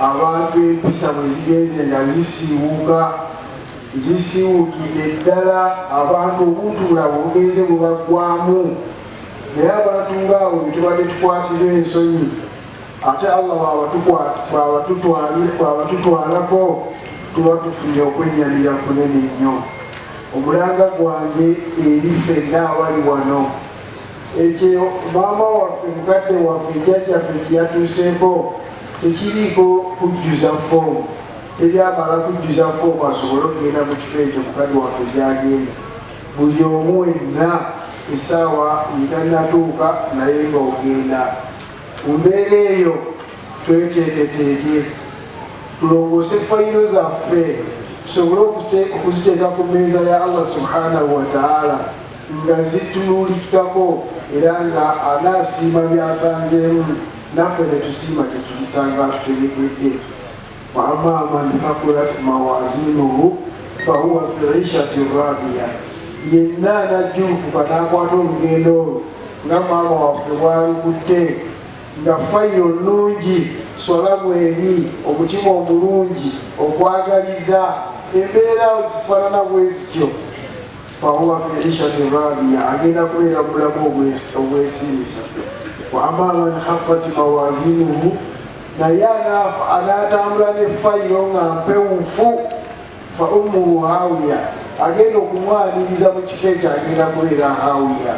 Abantu empisa bwe zigenze nga zisiiwuka zisiiwukidde ddala, abantu obuntu bulabo bugenze bubaggwamu, naye abantu ng'abo bye tubadde tukwatirwa ensonyi ate Allah bw'abatutwalako tuba tufunye okwennyamira kunene nnyo. Omulanga gwange eri ffenna abali wano. Ekyo maama waffe mukadde waffe jjajjaffe kyeyatuuseeko tekiriiko kujjuza foomu, teri amala kujjuza foomu asobole okugenda mu kifo ekyo mukadde waffe gyagenda. Buli omu wenna essaawa yetanatuuka naye nga ogenda. Mu mbeera eyo tweteeketeeke tulongoose fayiro zaffe tusobole okuziteeka ku mmeeza ya Allah subhanahu wataala. nga zitunuuliddwako era nga anaasiima byasanzeemu naffe ne tusiima kye tulisanga tutegededde wa amma man thakulat mawazinuhu fahuwa fi ishati radiya yenna anajjulukuka n'akwata olugendo olwo nga maama waffe bwalukutte nga fayiro nnungi sola bweri omutima omulungi okwagaliza embeera zifaanana bwezityo fahuwa fi ishati radiya agenda kubeera bulamu obwesinza wa ama man hafati mawazinuhu naye anaafa anaatambula ne fayiro nga mpewufu fa ummuhu hawiya agenda okumwaniriza mu kifo ekyo agenda kubeera hawiya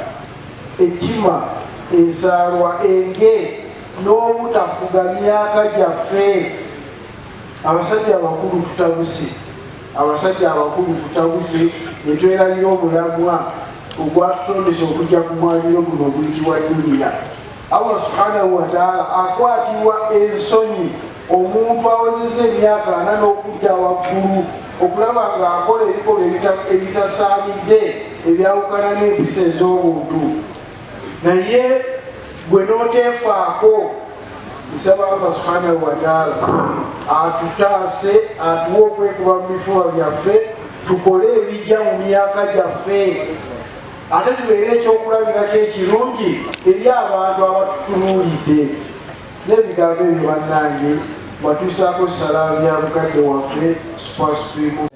ettima ensaalwa enge n'obutafuga myaka gyaffe abasajja abakulu tutabuse Abasajja abakulu tutabuse ne twerabira omulamwa ogwatutondesa okujja ku mwaliro guno oguyitibwa duniya. Allah subhanahu wataala akwatirwa ensonyi omuntu awezeza emyaka ana n'okudda waggulu okulaba ng'akola ebikolwa ebitasaanidde ebyawukana n'empisa ez'obuntu naye gwe n'oteefaako nsaba allah subhanahu wataala atutaase atuwa okwekuba mu bifuba byaffe tukole ebijja mu myaka gyaffe ate tubeere ekyokulabirako ekirungi eri abantu abatutunuulidde n'ebigambo ebyo bannange watuusaako salamu ya mukadde waffe supasupimu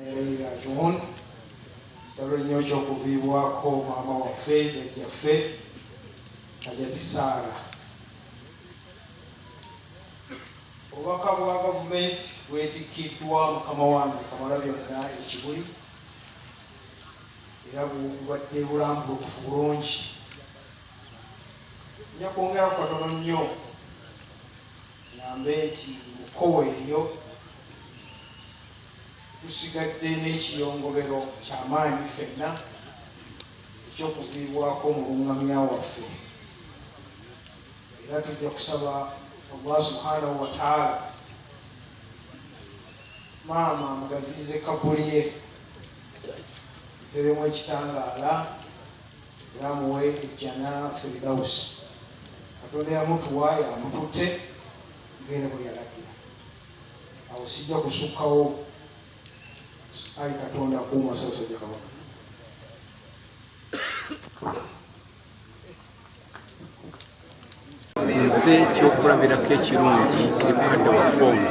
kitalo nnyo kyokuviibwako maama waffe jajjaffe hajati saala obubaka bwa gavumenti bwetikkiddwa mukama wange kamala byonna ekibuli era bubadde bulambulukufu bulungi nja kwongera kwatono nnyo ngambe nti mukowa eryo tusigadde n'ekiyongobero kyamaanyi fenna ekyokuviibwako omulungamya waffe era tujja kusaba allah subhanahu wataala maama amugaziize kabuli ye teremu ekitangaala era amuwe ejjana firidausi katonda yamutuwa yamututte ngere bwe yalagira awo sijja kusukkawo ayi katonda akuuma sasajja kabaka nze ekyokulabirako ekirungi eri mukadde waffe ono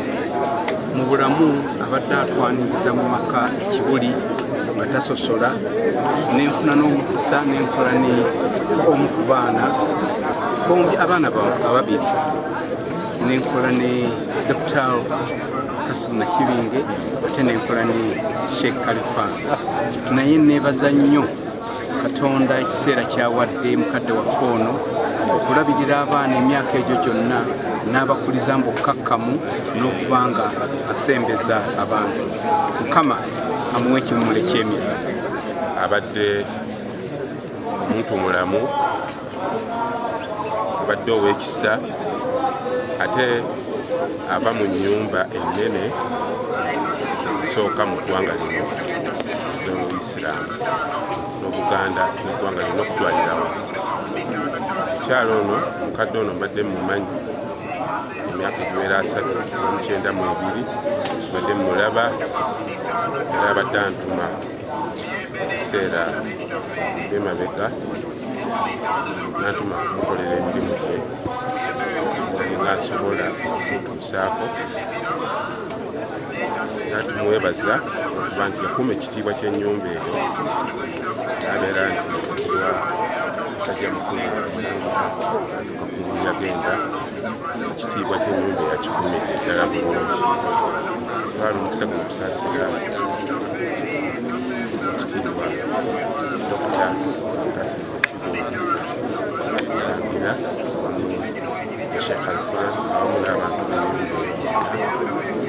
mu bulamu abadde atwaniriza mu maka ekibuli nga tasosola nenfuna n'omukisa nenkola ne omu ku baana bombi abaana ababiri nenkola ne dokitaalo Kasimu Nakibinge ate nenkola ne Sheikh Khalifa naye nebaza nnyo Katonda ekiseera kyawadde mukadde waffe ono okulabirira abaana emyaka egyo gyonna n'abakuliza mu bukkakkamu n'okuba nga asembeza abantu mukama amuwa ekimulo eky'emirembe abadde muntu mulamu obadde ow'ekisa ate ava mu nnyumba ennene ezisooka mu ggwanga lino z'obuisiraamu n'obuganda n'eggwanga lino okutwalirawo omukyalo ono omukadde ono mbadde mumanyi emyaka egiwera asatu omukyenda mu ebiri mbadde mulaba era abadde antuma ebiseera byemabega natuma kumukolera emirimu gye nga nsobola okutuusaako era tumwebaza okuba nti yakuuma ekitiibwa ky'ennyumba eyo nabeera nti wa musajja mukulu kakulu yagenda ekitiibwa kyenyumba yakikumidde eddala bulungi twala omukisa gwe okusasira ekitiibwa dokita kasimukigwaagira wamu eshekh alfura awamu n'abantu banyumba